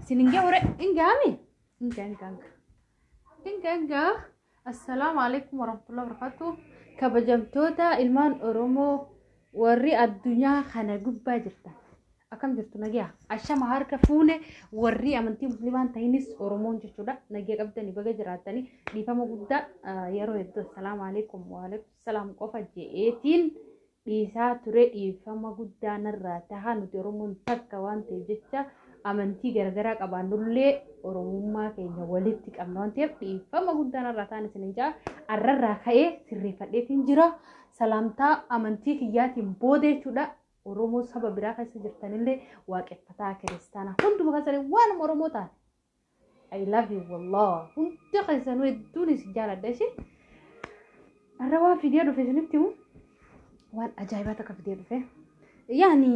Isin hin gahu hin gahame? Hin gaha hin gaha. Hin gaha hin gaha. Assalaamu alaikum warahmatullahi wabarakatuh. Kabajamtoota ilmaan Oromoo warri addunyaa kana gubbaa jirtan. Akkam jirtu nagaa? Ashama harka fuune warri amantii musliimaan tahinis Oromoon jechuudha. Nagaa qabdanii baga jiraatanii dhiifama guddaa yeroo hedduu assalaamu alaikum waalaikum salaam qofa je'eetiin. dhiisaa ture dhiifama guddaa narraa taha nuti oromoon takka waan ta'eef jecha amantii garagaraa qabaannullee oromummaa keenya walitti qabna waan ta'eef dhiifama guddaa narraa tahan isin hin ja'a arrarraa ka'ee sirreeffadheetiin jira salaamtaa amantii kiyyaatiin booda jechuudha oromoo saba biraa keessa jirtanillee waaqeffataa kiristaanaa hunduma keessanii waanuma oromoo taate I love you wallah hunda keessanuu hedduun isin jaaladha ishee har'a waan fidee dhufe isinitti himu waan ajaa'ibaa takka fidee dhufe yaani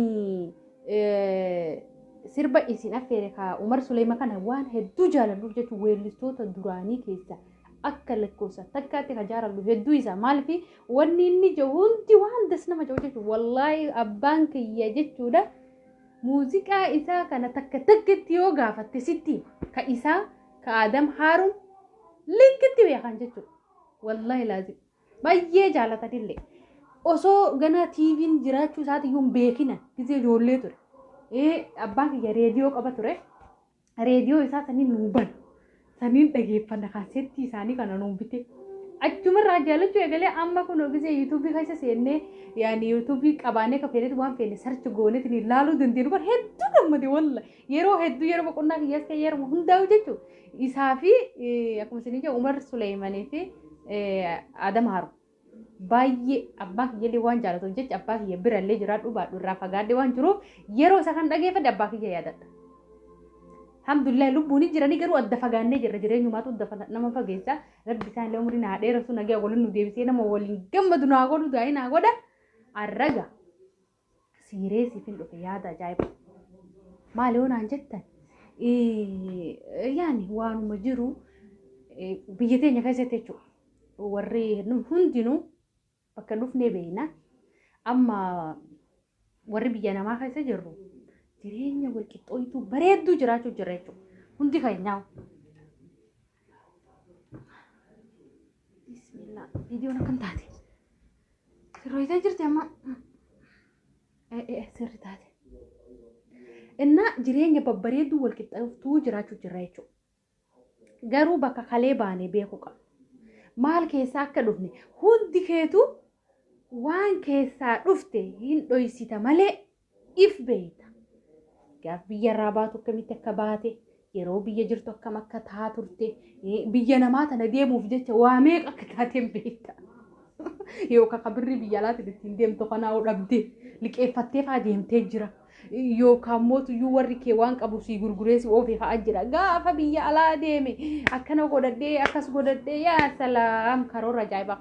sirba isin affeere kaa umar suleema kana waan hedduu jaaladhuuf jechuun weellistoota duraanii keessa akka lakkoofsa takkaatti ka jaaladhu hedduu isaa maalifi wanni inni jiru hundi waan das nama jiru jechuudha wallaahi abbaan kiyya jechuudha Muuziqaa isaa kana takka takkatti yoo gaafatte sitti hima. Ka isaa ka Aadam Haaruun likkitti beekan jechuudha. Wallaahi laazim. Baay'ee jaalatanillee. Osoo ganaa TV'n jiraachuu isaatiyyuu hin beekina. Gizee ijoollee ture. Ee abbaan kiyya reediyoo qaba ture. reediyoo isaa sanii nuu ban saniin dhageeffanna kaasettii isaanii kana nuu bite achumarraa jaalachuu eegalee amma kun ogisee yuutuubii keessa seennee yaani yuutuubii qabaanee ka feenetu waan feene sarchi gooneetiin ilaaluu dandeenyu bar hedduu gammade walla yeroo hedduu yeroo boqonnaa kiyyaas ta'e yeroo hundaa'u jechuun isaa fi akkuma isin ija Umar Suleeymanii fi Adam Haru. baay'ee abbaan kiyyallee waan jaalatuuf jecha abbaa kiyya birallee jiraadhu baadhu irraa fagaadhe waan jiruuf yeroo isa kan dhageeffadhe abbaa kiyya yaadadha. Alhamdulillah lubbuun hin jiranii garuu adda fagaannee jirra jireenyumaatu adda fa- nama fageessa rabbi isaan illee umrii naa dheeressu nagaa waliin nu deebisee nama waliin gammadu naa godhu daa'ii naa godha arraga. siiree siifin dhufe yaada ajaa'iba maali yoo naan jettan eh, yaani waanuma jiru eh, biyya teenya keessatti jechuudha warri nu- hundinuu bakka dhufnee beekna amma warri biyya namaa keessa jirru jireenya walqixxooytuu bareedduu jiraachuu jira jechuudha hundi keenyaa Bismillah. Viidiyoon akkam taate? Sirreessee jirti amma. Eh, eh, sirri taate. Innaa jireenya babbareedduu wal qixxaaftuu jiraachuu jirra jechuudha. Garuu bakka kalee baanee beekuu qabna. Maal keessaa akka dhufne hundi keetu waan keessaa dhufte hin dhoysita malee if beeyta. Gaaf biyya irraa baatu akkamitti akka baate, yeroo biyya jirtu akkam akka taa turte, biyya namaa tana deemuuf jecha waa meeqa akka taateen beekta. Yookaan kan birrii biyya alaatiin ittiin deemtu kanaa dhabdee liqeeffattee faa deemtee jira. Yookaan mootuyyuu warri kee waan qabu sii gurguree si oofee fa'aa jira. Gaafa biyya alaa deeme akkana godhadhee akkas godhadhee yaa salaam karoora ajaa'ibaa.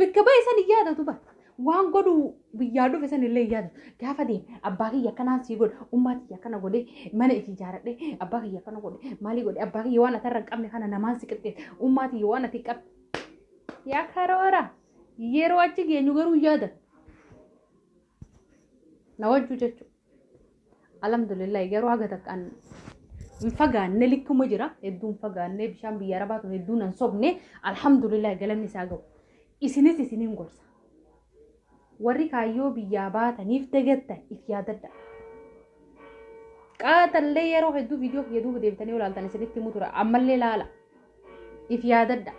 Bakka ba'e san hin yaadatu bar. Waan godhu biyyaa dhufe san illee hin yaadatu. Gaafa deeme abbaa kiyya akkanaan sii godhe ummaa kiyya akkana godhe mana itti ijaaradhe abbaa kiyya akkana godhe maalii godhe abbaa kiyya waan ati irra hin qabne kana namaan si qixxeesse ummaa kiyya waan ati hin qabne. Yaa karoora yeroo achi geenyu garuu hin yaadatu. na wajju jechu alhamdulillahi garuu haga takkaan hin fagaanne likkuma jira hedduu hin fagaanne bishaan biyya arabaa tun hedduu nan sobne alhamdulillahi galanni isaa gahu isinis isiniin gorsa warri kaayyoo biyyaa baataniif dagattan if yaadadha qaatallee yeroo hedduu viidiyoo kiyya duuba deebitanii olaaltan isinitti himu tura ammallee laala if yaadadha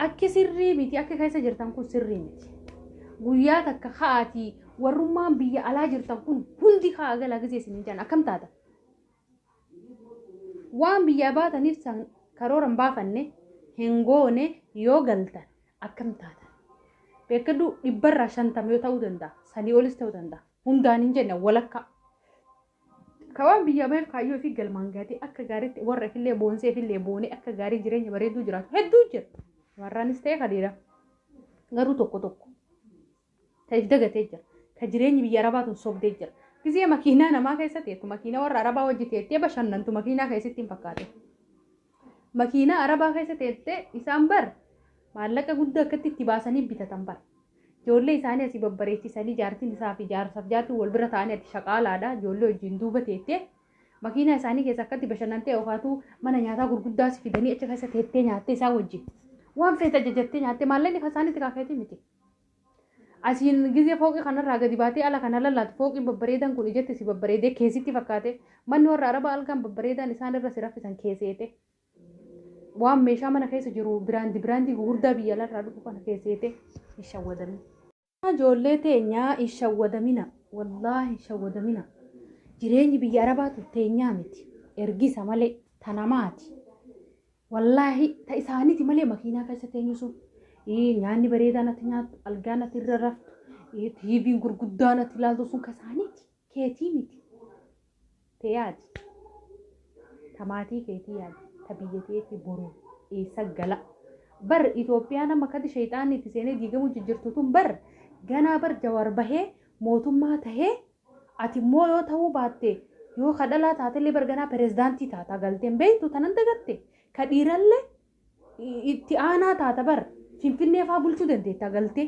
akki sirrii miti akka keessa jirtan kun sirrii miti guyyaa takka ka'aatii warrummaan biyya alaa jirtan kun hundi ka'a galaa gisee isin hin jedhan akkam taata waan biyyaa baataniif san karoora hin baafanne hin goone yoo galtan akkam taata beekadhu dhibbarraa shantama yoo ta'uu danda'a sanii olis ta'uu danda'a hundaan hin jenne walakkaa Ka waan biyyaa baheef kaayyoo fi galmaan gaatee akka gaariitti warra ifillee boonsee ifillee boonee akka gaarii jireenya bareeduu jiraatu hedduu jira. Warraanis ta'e ka dhiiraa. Garuu tokko tokko. Ka if dagatee jira. Ka jireenyi biyya arabaa tun sobdee jira. Gizee makiinaa namaa keessa teettu makiinaa warra arabaa hojjeteettee bashannantu makiinaa keessatti hin fakkaate. Makiinaa arabaa keessa teessee isaan bar maallaqa guddaa akkatti itti baasanii bitatan bar. Ijoollee isaanii asii babbareechisanii jaartiin isaa fi jaarsaaf jaartiin wal bira ta'anii ati shaqaalaadha ijoollee wajjin duuba teettee makiinaa isaanii keessa akkatti bashannantee yookaatu mana nyaataa gurguddaas fidanii achi keessa teettee nyaattee isaa wajjin waan feete ajajattee nyaattee maallaqni kan isaaniitti kaakeetii miti. Asiin gizee fooqii kanarraa gadi baatee ala kana lallaatu fooqiin babbareedan kun ijatti si babbareedee kee sitti fakkaate manni warra arabaa algaan babbareedaan isaan irra si raffisan kee seete waan meeshaa mana keessa jiru biraandi biraandii gugurdaa biyya alarraa dhufu kana kee seete hin shawwadamne. Ijoollee teenyaa hin shawwadamina wallaahi hin shawwadamina jireenyi biyya arabaatu teenyaa miti ergisa malee ta namaati. Wallaahi ta isaaniti malee makiinaa keessa teenyu sun ii, nyaanni bareedaan ati nyaattu algaan ati irra raftu ii, tiiviin gurguddaan ati ilaaltu sun ka isaaniti keetii miti tee yaadi ta maatii keetii yaadi ta biyya teetii boru eessa gala bar Itoophiyaa nama kadi sheexaanni itti seenee diigamuu jijjirtu tun bar ganaa bar jawaar bahee mootummaa tahee Ati immoo yoo ta'uu baatte yoo ka dhalaa taatellee barganaa pirezidaantii taata galteen beektu tanan dagatte ka dhiirallee itti aanaa taata bar finfinnee faa bulchuu dandeetta galtee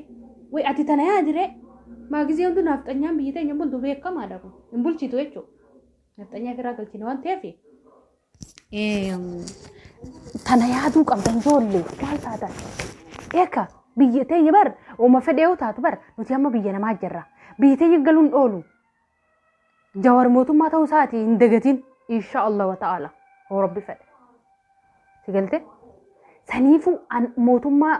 way ati tana yaa diree maa gizee hunduu naafxanyaan biyyi teenya bultu beekamaadha kun hin bulchitu jechuudha naafxanyaa firaa galchine waan ta'eef Tana yaaduu qabdan ijoollee maal taatan? Eeka biyya teenya bar uuma fedhee yoo taatu bar nuti amma biyya namaa jirra. Biyya teenya galuun oolu. Jawar mootummaa ta'uu isaati hin dagatiin insha Allah wa ta'ala hoo rabbi fedhe. Si galte? Saniifuu an mootummaa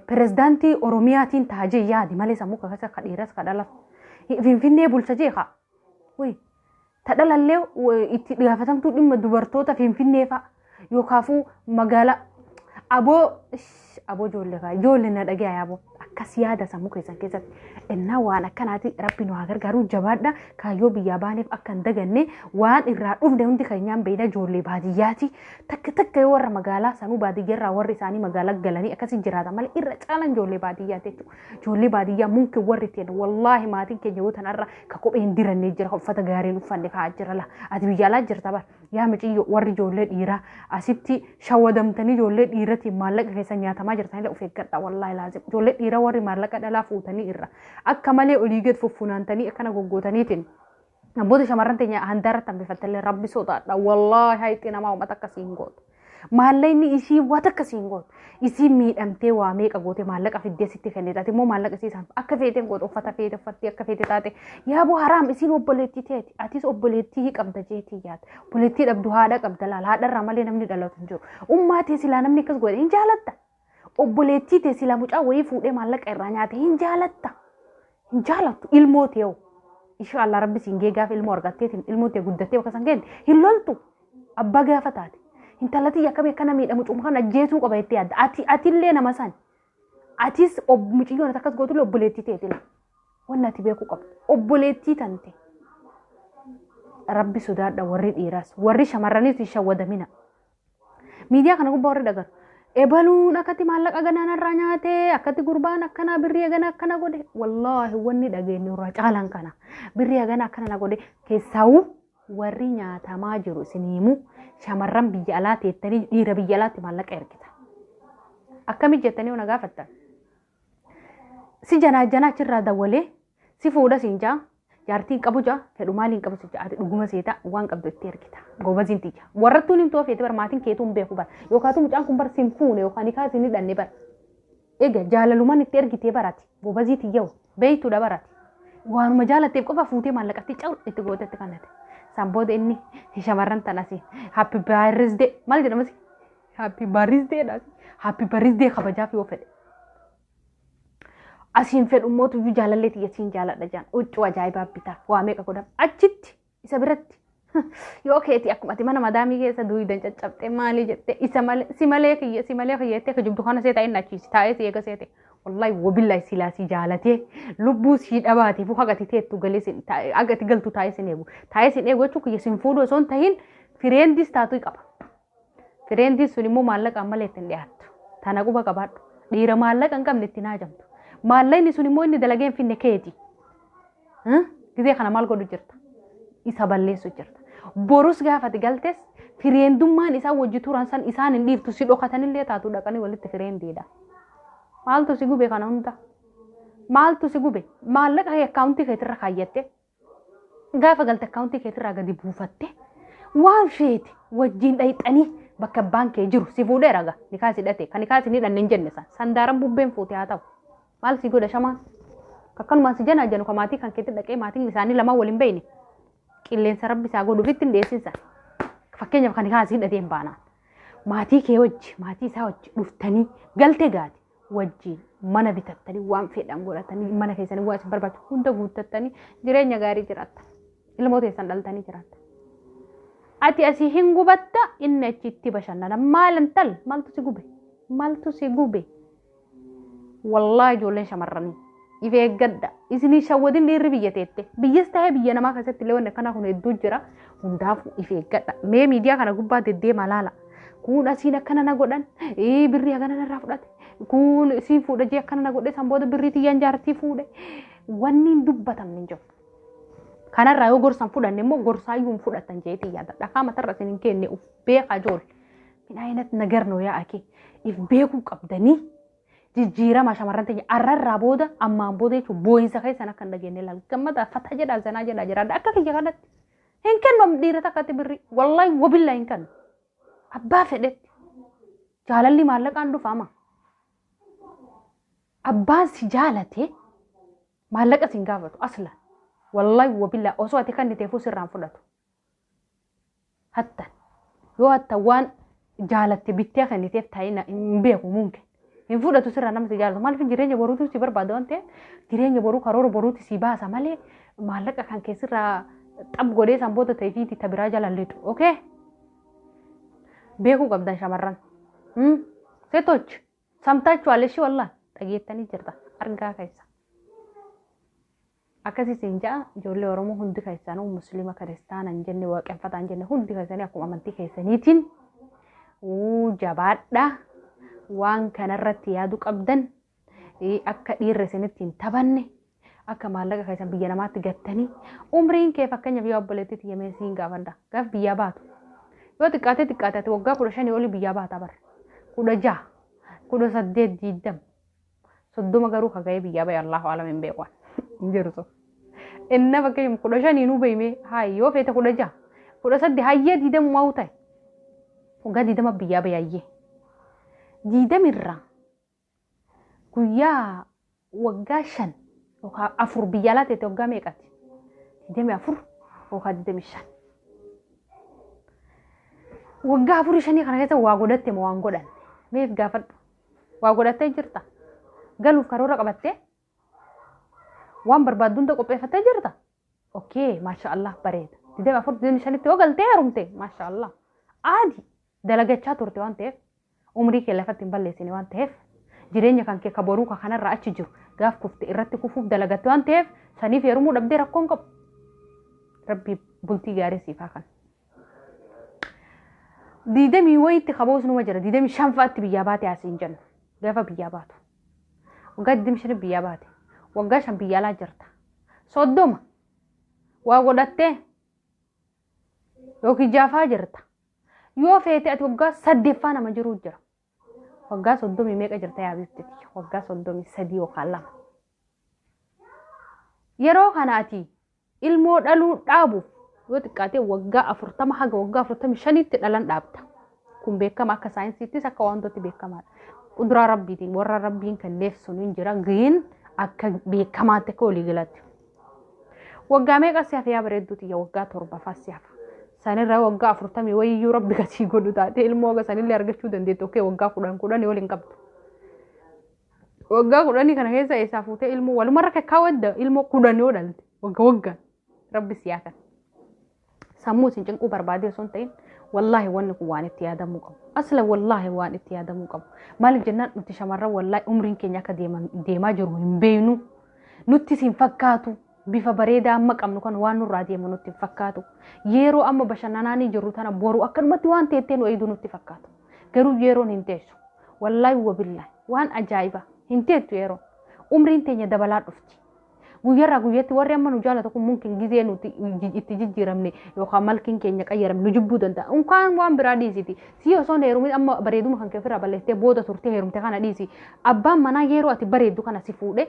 pirezidaantii Oromiyaatiin taajee yaadi malee sammuu kakasa ka dhiiras ka dhalas. Finfinnee bulcha jee kaa. Wayii. Ta dhalallee itti gaafatamtuu dhimma dubartoota Finfinnee fa'a yookaafuu magaalaa aboo aboo ijoollee fa'a ijoollee na dhagayaa aboo akkas yaada sammuu keessan keessatti innaa waan akkanaati rabbi nu haa gargaaru jabaadha kaayyoo biyyaa baaneef akka hin daganne waan irraa dhufne hundi keenyaan beeyna ijoollee baadiyyaati takka takka yoo warra magaalaa sanuu baadiyyaarraa warri isaanii magaalaa galanii akkasii jiraata malee irra caalaan ijoollee baadiyyaati jechuudha Ijoollee baadiyyaa mumkin warri ta'e wallaahi maatiin keenya yoo tanarra ka kophee hin dirannee jira uffata gaariin uffanne kaa'aa jira la ati biyya alaa jirta bar yaa miciyyo warri ijoollee dhiiraa asitti shawadamtanii ijoollee dhiiratiin maallaqa keessa nyaatamaa jirtanillee of eeggadha wallaahi laazim ijoollee dhiiraa warri maallaqa dhalaa fuutanii irra akka malee olii gad fuffunaantanii akkana goggootaniitiin Abboota shamarran teenya handaarratti hambifattellee rabbi sodaadha. Wallaahi hayitti namaa uummata akkasii hin gootu. Maallaqni isii waan akkasii hin gootu. Isii miidhamtee waa meeqa gootee maallaqa fiddee sitti kennite. Ati immoo maallaqa isii isaan akka feetee hin gootu uffata feete uffattee akka feete taate. Yaaboo haraam isiin obboleettii teeti. Atis obboleettii qabda jeetii yaada. Obboleettii dhabdu haadha qabda laala. Haadharraa malee namni dhalatu hin jiru. Ummaa tee silaa namni akkas godhe hin jaalatta. Obboleettii tee sila mucaa wayii fuudhee maallaqa irraa nyaate hin jaalatta. Hin jaalattu ilmoo tee hoo. Insha Allah rabbi siin gee gaafa ilmoo argatteetiin ilmoo tee guddattee bakka san geente hin loltu. Abbaa gaafa taate. Intala tiyya akkamii akkana miidha mucuma kan ajjeesuu qaba jettee yaadda. Ati atillee nama sani. Atis ob- mucayyoon ati akkas gootullee obboleettii teetila. Wanni ati beekuu qabdu. Obboleettii tante. Rabbi sodaadha warri dhiiras. Warri shamarraniis hin shawwadamina. Miidiyaa kana gubbaa warri dhagaru. Ebaluun akkatti maallaqa ganaan irraa nyaate, akkatti gurbaan akkanaa birrii hagana akkana godhe. Wallaahi wanni dhageenyu irraa caalan kana. Birrii hagana akkana na godhe keessaawuu warri nyaatamaa jiru isin himu shamarran biyya alaa teettanii dhiira biyya alaatti maallaqa ergita. Akkamitti jettanii ona gaafattan? Si janaa janaa achirraa dawwalee si fuudha siin jaa Jaartii hin qabu ja'a fedhu maali hin qabu si ja'a dhuguma seeta waan qabdu itti ergita gobaziin tiyya warrattuun himtuu feete bar maatiin keetuu hin beeku bar yookaatu mucaan kun bar sin fuune yookaan hikaa sin hidhanne bar egaa jaalalumaan itti ergitee barati gobazii tiyyawu beeytuudha barati waanuma jaalatteef qofa fuutee maallaqatti cawu itti gootetti kannate san booda inni shamarran tan asii happy birthday maal jedhamasi happy birthday dha happy birthday kabajaaf yoo fedhe asiin fedhu immoo tuyyuu jaalallee tiyya siin jaaladha jaan huccuu ajaa'ibaa bitaaf waa meeqa godhaf achitti isa biratti yoo keeti akkuma ati mana madaamii keessa duuydan caccabxee maalii jettee isa malee si malee kiyya si malee kiyya jettee kijibdu kana seeta inni achiisi taa'ee si eega seete wallahi wabillahi silaa si jaalatee lubbuu si dhabaatee fuu hagati teettu galee sin taa'ee hagati galtu taa'ee sin eegu taa'ee sin eegu jechuun kiyya sin fuudhu osoo hin tahin fireendis taatuu qaba. Tireendiin sun immoo maallaqaan malee itti hin dhiyaattu. Tana quba qabaadhu. Dhiira maallaqa hin qabne itti hin haajamtu. Maallaqni sun immoo inni dalagee hin finne keeti. Hah? Gizee kana maal godhu jirta? Isa balleessu jirta. Borus gaafati galtes fireendummaan isaan wajji turan san isaan hin dhiiftu si dhokatanillee taatu dhaqanii walitti fireendiidha. Maaltu si gube kana hunda? Maaltu si gube? Maallaqa kee akkaawuntii keetirra kaayyatte. Gaafa galte akkaawuntii keetirraa gadi buufatte waan feete wajjin dhayxanii bakka abbaan kee jiru si fuudhee raga nikaa si dhate kan nikaa si ni dhanne hin jenne san sandaaran bubbeen fuute haa ta'u maal si godha shamaan akkanumaan si janaa janu ka maatii kan keetti dhaqee maatiin isaanii lamaan waliin beeyne qilleensa rabbi isaa godhu ofitti hin dhiyeessin san fakkeenyaaf kan nikaa si hidhatee hin baanaan maatii kee wajji maatii isaa wajji dhuftanii galte gaati wajjiin mana bitattanii waan fedhan godhatanii mana keessanii waan isin barbaachisu hunda guuttattanii jireenya gaarii jiraatta. Ilmoo teessan dhaltanii jiraatta. Ati asii hin gubatta inni achitti bashannana. Maal intal maaltu si gube? Maaltu si gube? Wallaahi ijoolleen shamarranii. If eeggadha. Isin hin shawwadin dhiirri biyya teette. Biyyas ta'ee biyya namaa keessatti illee wanni akkanaa kun hedduu jira. Hundaafuu if eeggadha. Mee miidiyaa kana gubbaa deddeemaa laala. Kun asiin akkana na godhan. Ee birrii akkana narraa fudhate. Kun isiin fuudha jee akkana na godhe san booda birrii tiyyaan jaartii fuudhe. Wanni hin dubbatamne hin jiru. Kanarraa yoo gorsan fudhanne immoo gorsaayyuu hin fudhatan jeetii yaada. Dhakaa matarra isin hin kenne of beekaa ijoollee. Min ayinat nagar noo yaa akee. If beekuu qabdanii. jijjiirama shamarran teenya arrarraa booda ammaan booda jechuun boo'insa keessan akka hin dhageenye laal gammada fata jedha zanaa jedha jiraadha akka kiyya kanatti hin kennu dhiira takkatti birri wallaahi wabillaa hin kennu abbaa fedhetti jaalalli maallaqaan dhufama abbaan si jaalate maallaqa sin gaafatu aslan wallaahi wabillaa osoo ati kanniteefuu sirraan fudhatu hattan yoo hattan waan jaalatte bittee kenniteef taa'ina hin beeku mumkin hin fudhatu sirraa nama si jaalatu maaliif jireenya boruutu si barbaada waan ta'eef jireenya boruu karoora boruuti si baasa malee maallaqa kan kee sirraa xab godhee san booda ta'e fi itti biraa jala lidu okay beekuu qabdan shamarran seetochi samtaachu aleshii wallaan dhageettanii jirta argaa keessa. Akkasi isin ja'a ijoollee Oromoo hundi keessanuu Muslima Kiristaana hin jenne waaqeffataa hin jenne hundi keessanii akkuma amantii keessaniitiin uu jabaadhaa waan kanarratti yaadu qabdan ii, akka dhiirri isinitti hin taphanne akka maallaqa keessan biyya namaatti gattanii umriin kee fakkeenyaaf yoo obboleettii tiyya mee siin gaafadha gaaf biyyaa baatu yoo xiqqaatee xiqqaate ati waggaa kudha shanii olii biyyaa baata bara kudha jaha kudha saddeet diiddam soddoma garuu ka ga'ee biyyaa ba'e Allahu alam hin beeku hin jiru sun. Inna fakkeenyaaf kudha shanii nu beeyme haa yoo feete kudha jaha kudha sadde hayyee diidamu maa ta'e waggaa diidama biyyaa ba'e hayyee diidamirraa guyyaa waggaa shan yookaan afur biyya alaa ta'e waggaa meeqati diidami afur yookaan diidami shan waggaa afurii shanii kana keessa waa godhatte moo waan godhanne meef gaafadhu Waa godhattee jirta. Galuuf karoora qabattee waan barbaaddu hunda qopheeffattee jirta. Okkee maasha Allah bareeda. Digdami afur digdami shanitti yoo galtee heerumte maasha Allah. Aadi dalagachaa turte waan ta'eef umrii kee lafatti hin balleessine waan ta'eef jireenya kan kee ka boruu ka kanarraa achi jiru gaaf kufte irratti kufuuf dalagatte waan ta'eef saniif heerumuu dhabdee rakkoon qabu. Rabbi bultii gaarii siif haa kan. digdamii wayiitti kaboos numa jira digdamii shan fa'aatti biyyaa baate asiin jenna gaafa biyyaa baatu waggaa digdamii shaniif biyyaa baate waggaa shan biyya alaa jirta soddoma waa godhattee yookiin jaafaa jirta yoo feete ati waggaa saddeeffaa nama jiruu jira Waggaa soddomii meeqa jirta yaa biifti tiyya? Waggaa soddomii sadii yookaan lama. Yeroo kana ati ilmoo dhaluu dhaabuuf yoo xiqqaatee waggaa afurtama haga waggaa afurtamii shaniitti dhalan dhaabda. Kun beekama akka saayinsiittis akka wantooti beekamaadha. Quduraa rabbiitiin warra rabbiin kenneef sun hin jira giin akka beekamaatti akka waliigalaatti. Waggaa meeqa si hafe yaa bareedduu tiyya waggaa torbafaa si hafa. Sanirraa waggaa afurtamii wayiyyuu rabbi kasii godhu taate ilmoo oga sanillee argachuu dandeettu okkee waggaa kudhan kudhanii waliin qabdu. Waggaa kudhanii kana keessa eessaa fuutee ilmoo walumarra kakkaa wadda ilmoo kudhanii odhalte wagga waggaan rabbi si haa kan. sammuu isin cinquu barbaadee osoo hin ta'in wallaahi wanni kun waan itti yaadamuu qabu. Asla wallaahi waan itti yaadamuu qabu. Maaliif jennaan nuti shamarran wallaahi umriin keenya akka deemaa jiru hin beeknu. Nutti isin fakkaatu bifa bareedaa amma qabnu kan waan nurraa deemu nutti hin fakkaatu. Yeroo amma bashannanaanii jirru tana boru akkanumatti waan teettee nu eegdu nutti fakkaatu. Garuu yeroon hin teessu. Wallaahi wabillaahi waan ajaa'iba hin teettu yeroo. Umriin teenya dabalaa dhufti. Guyyarraa guyyatti warri amma nu jaalatu kun mumkin gizee nuti iji- itti jijjiiramne yookaan malkiin keenya qayyaramne nu jibbuu danda'a. Unkaan waan biraa dhiisiti. Si osoo hin heerumin amma bareeduma kan kee ofirraa balleessitee booda turtee heerumte kana dhiisi. Abbaan manaa yeroo ati bareeddu kana si fuudhe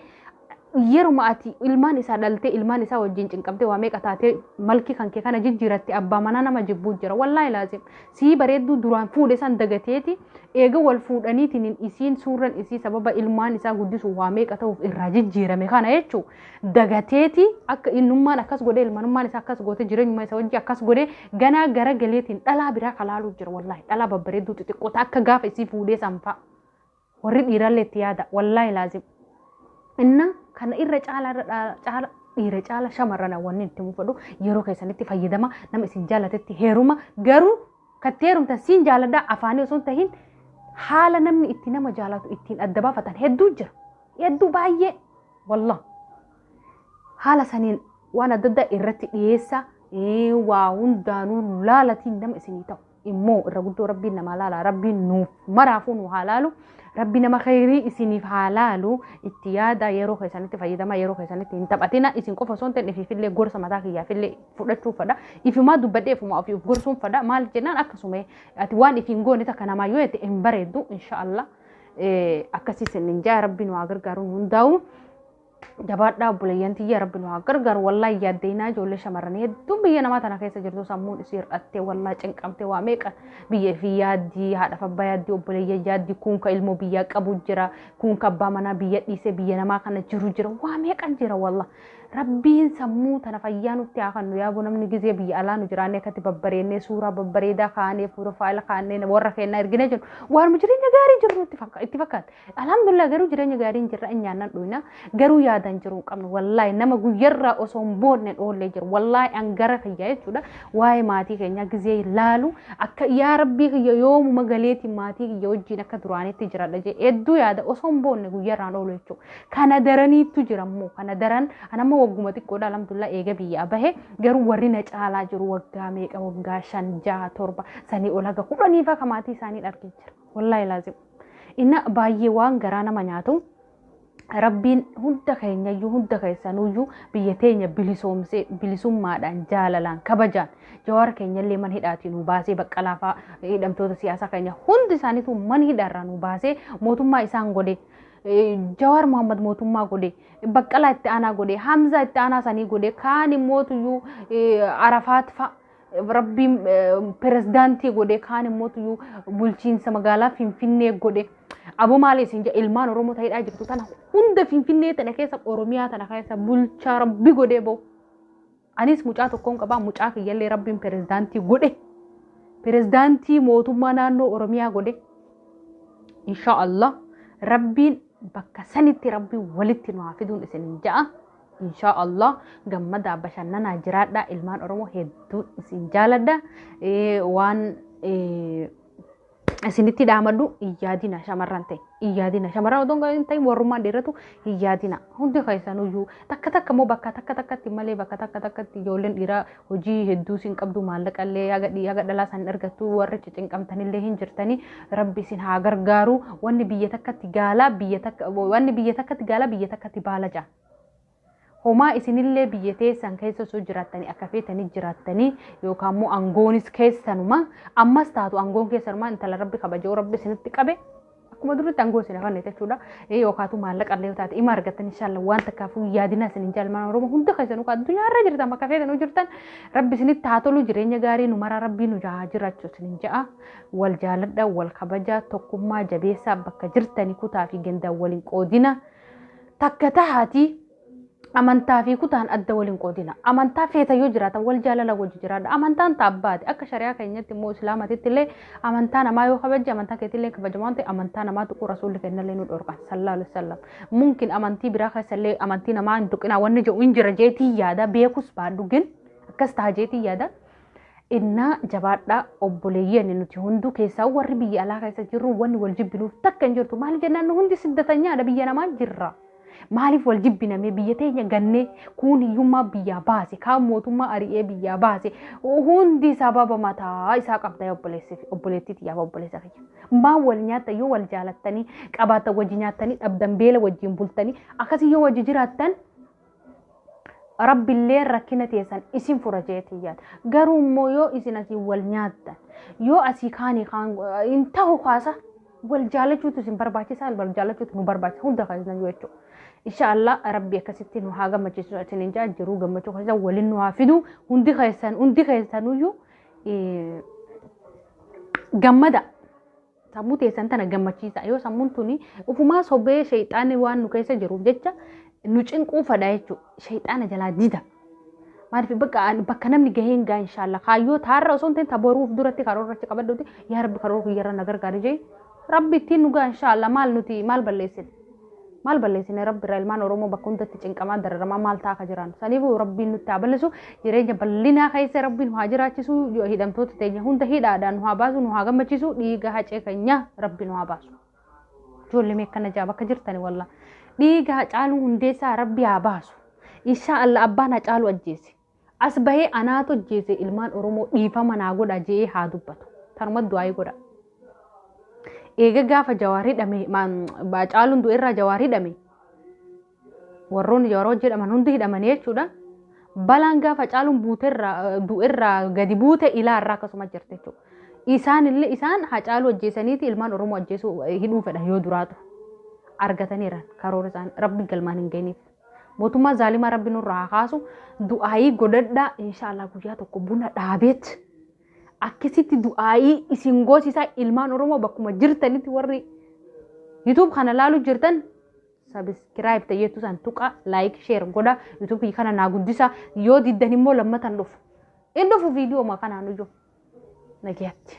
yeruma ati ilmaan isaa dhaltee ilmaan isaa wajjin cinqamtee waa meeqa taatee malkii kan kee kana jijjiiratte abbaa manaa nama jibbuu jira. Wallaahi laazim. Sii bareedduu duraan fuudhe san dagateeti eega wal fuudhaniitiin isiin suurran isii sababa ilmaan isaa guddisuuf waa meeqa ta'uuf irraa jijjiirame kana jechuu dagateeti akka innummaan akkas godhe ilmanummaan isaa akkas goote jireenyuma isa wajji akkas godhe ganaa gara galeetiin dhalaa biraa kalaaluu jira wallaahi dhalaa babbareedduu xixiqqoota akka gaafa isii fuudhee sanfaa. Warri dhiirallee itti yaada wallaahi laazim. Inna kana irra caala irra dha- caala dhiira caala shamarran wanni itti mufadhu yeroo keessanitti fayyadama nama isin jaalatetti heeruma garuu katti heerumtan siin jaaladha afaanii osoo hin tahin haala namni itti nama jaalatu ittiin adda baafatan hedduu jira hedduu baay'ee wallah haala saniin waan adda addaa irratti dhiyeessa ee, waa hundaanuu laalatiin nama isinii ta'u immoo irra guddoo rabbiin namaa laala rabbiin nuuf maraafuu nu haa laalu rabbi nama khayrii isiniif haa laalu itti yaada yeroo keessanitti fayyadamaa yeroo keessanitti hin taphatina isin qofa osoo hin ta'in ifiifillee gorsa mataa kiyyaafillee fudhachuuf fadha ifumaa dubbadhee ifumaa ofii of gorsuun fadha maal jennaan akkasuma ati waan ifiin goone takka namaa yoo jette hin bareeddu inshaallah akkasii sin hin jaa rabbi nu haa gargaaru nu hundaa'u. jabaadhaa obboleeyyan tiyya rabbi nu haa gargaaru wallaa yaaddeynaa ijoollee shamarranii hedduun biyya namaa tana keessa jirtu sammuun isii hir'attee wallaa cinqamtee waa meeqa biyya fi yaaddii haadhaaf abbaa yaaddii obboleeyyan yaaddii kuunka ilmoo biyyaa qabu jira kuunka abbaa manaa biyya dhiisee biyya namaa kana jiru jira waa meeqan jira wallaa rabbiin sammuu tana fayyaa nutti haa kennu yaaboo namni gizee biyya alaa nu jiraannee akkatti babbareennee suuraa babbareedaa kaanee fuura faayila kaannee warra keennaa ergina jennu waanuma jireenya gaarii jiru itti fakkaata Alhamdulillah garuu jireenya gaarii hin jirra hin nyaannan dhuyna garuu yaada hin jiru hin qabnu wallaahi nama guyyarraa osoo hin boonne dhoollee jiru wallaahi an gara kiyya jechuudha waa'ee maatii keenyaa gizee laalu akka yaa rabbii kiyya yoomuma galeetiin maatii kiyya wajjin akka duraanitti jiradha jee hedduu yaada osoo hin boonne guyyarraan oolu jechuudha kana daraniittu jira immoo kana daran an amma wagguma xiqqoodha alhamdulillah eega biyyaa bahe garuu warri na caalaa jiru waggaa meeqa waggaa shan jaha torba sanii ol haga kudhaniifaa ka maatii isaanii dhargee jira. wallaahi laazim inna baay'ee waan garaa nama nyaatu rabbiin hunda keenyayyuu hunda keessanuyyuu biyya teenya bilisoomsee bilisummaadhaan jaalalaan kabajaan jawaar keenyallee man hidhaatii nu baasee baqqalaafaa hidhamtoota siyaasaa keenya hundi isaaniitu man hidhaarraa nu baasee mootummaa isaan godhe jawaar mohammad mootummaa godhe baqqalaa itti aanaa godhe hamzaa itti aanaa sanii godhe kaan immootuyyuu arafaat fa'a Rabbiin pirezidaantii godhe kaan immoo tuyyuu bulchiinsa magaalaa Finfinnee godhe. Aboo maali isin jedha ilmaan Oromoo ta'edhaa jirtu tana hunda Finfinnee tana keessa Oromiyaa tana keessa bulchaa rabbi godhee ba'u. Anis mucaa tokkoon qabaa mucaa kiyyallee rabbiin pirezidaantii godhe. Pirezidaantii mootummaa naannoo Oromiyaa godhe. Inshaa Allah rabbiin bakka sanitti rabbiin walitti nu haa fiduun isin ja'a. inshaa Allah gammadaa bashannanaa jiraadhaa ilmaan Oromoo hedduu isin jaaladha Eh, waan eh, isinitti dhaamadhu hin yaadina shamarran ta'e hin yaadina shamarran otoo hin ta'in warrummaan dhiiratu hin yaadina hundi keessanuyyuu takka takka immoo bakka takka takkatti malee bakka takka takkatti ijoolleen dhiiraa hojii hedduus hin qabdu maallaqa illee haga dhii haga dhalaa san argattu warra cicinqamtan illee hin jirtani rabbi isin haa gargaaru wanni biyya takkatti gaalaa biyya takka wanni biyya takkatti gaalaa biyya takkatti baala ja'a. Homaa isinillee biyya teessan keessa osoo jiraattanii akka feetanii jiraattanii yookaan immoo aangoonis keessanuma ammas taatu aangoon keessanuma intala rabbi kabajoo rabbi isinitti qabe Akkuma duritti aangoo isin hafanne jechuudha. Ee yookaatu maallaqa illee yoo taate ima argattan inshaalla waan takkaafuu yaadinaa isin hin jaalmaan Oromoo hunda keessanuu kan addunyaa irra jirtan bakka feetanuu jirtan rabbi isinitti haa tolu jireenya gaarii nu maraa rabbii nu haa jiraachu isin hin ja'a. Wal jaaladha wal kabajaa tokkummaa jabeessaa bakka jirtani kutaa fi gandaan waliin qoodina takka tahaatii amantaa fi kutaan adda wal hin qoodina. Amantaa feeta yoo jiraatan wal jaalala wajji jiraadha. Amantaan taabbaati. Akka shari'aa keenyatti immoo islaamatitti illee amantaa namaa yoo kabajje amantaa keetti illee kabajamu waan ta'eef amantaa namaa tuquu rasuulli keenya illee nu dhorkan sallallahu alaihi wasallam. Mumkin amantii biraa keessa illee amantii namaa hin tuqinaa wanni jedhu hin jira jeetii yaada beekus baadhu gin akkas taha jeetii yaada. Innaa jabaadhaa obboleeyyan nuti hunduu keessaa warri biyya alaa keessa jirru wanni wal jibbinuuf takka hin jirtu. Maaliif jennaan nu hundi siddatanyaadha biyya namaa jirra. Maaliif wal jibbinamee biyya teenya gannee kuun hiyyummaa biyyaa baase kaan mootummaa ari'ee biyyaa baase hundi sababa mataa isaa qabda obboleessi fi obboleettii tiyyaaf obboleessa kiyya. Maan wal nyaatta yoo wal jaalattanii qabaatan wajji nyaattanii dhabdan beela wajjin bultanii akkasii yoo wajji jiraattan Rabbilleen rakkina teessan isin fura jeetiin yaada. Garuu immoo yoo isin asii wal nyaattan, yoo asii kaanii kaan hin tahu kaasa wal jaalachuutu isin barbaachisaa wal jaalachuutu nu barbaachisa hunda keessan yoo jechuudha. Insha Allah rabbi akkasitti nu haa gammachiisu isin hin jaa jiruu gammachuu keessan waliin nu haa fidu hundi keessan hundi keessanuyyuu gammada. Sammuu teessan tana gammachiisa. Yoo sammuun tuni ufumaa sobee sheexaanni waan nu keessa jiruuf jecha nu cinquu fadha jechuudha. Sheexaana jalaa dida. Maaliif bakka bakka namni gahee hin gaa inshaallah. Kaayyoo taarra osoo hin ta'in taboruuf duratti karoorrachi qabadhuuti. Yaa rabbi karoora kiyyarra na gargaari jee. Rabbi ittiin nu gaa inshaallah maal nuti maal balleessina. maal balleessine rabbi irraa ilmaan oromoo bakka hundatti cinqamaa dararamaa maal ta'a akka jiraannu saniif rabbiin nutti haa balleessu jireenya bal'inaa keessa rabbiin nu haa jiraachisu hidhamtoota teenya hunda hidhaadhaan nu haa baasu nu haa gammachiisu dhiiga hacee keenya rabbi nu haa baasu ijoollee mee akkana jaa bakka jirtani walla dhiiga hacaaluu hundeessaa rabbi haa baasu inshaa allah abbaan hacaaluu ajjeese As bahee anaatu ajjeese ilmaan Oromoo dhiifama naa godha je'ee haa dubbatu. Tanuma du'aayii godha. Eega gaafa jawaar hidhame caaluun du'e irraa jawaar hidhame warroonni jawaar wajji hidhaman hundi hidhamanii jechuudha. Balaan gaafa caaluun buute irraa du'e irraa gadi buute ilaa irraa akkasuma jirti jechuudha. Isaan illee isaan hacaaluu ajjeesaniiti ilmaan Oromoo ajjeesuu hidhuu fedhan yoo duraatu argataniiran karoora isaanii rabbi galmaan hin geenyeef. Mootummaa zaalimaa rabbi nurra haa kaasu. Du'aayii godhadhaa inshaallah guyyaa tokko buna dhaabeet. Akkasitti du'aayii isin goosisaa ilmaan Oromoo bakkuma jirtanitti warri YouTube kana laalu jirtan sabiskiraayib ta'eetu san tuqa laayik sheer godha YouTube kana naa guddisa yoo diddan immoo lammatan dhufu. In dhufu viidiyoo kanaan iyyuu. Nagiyatti.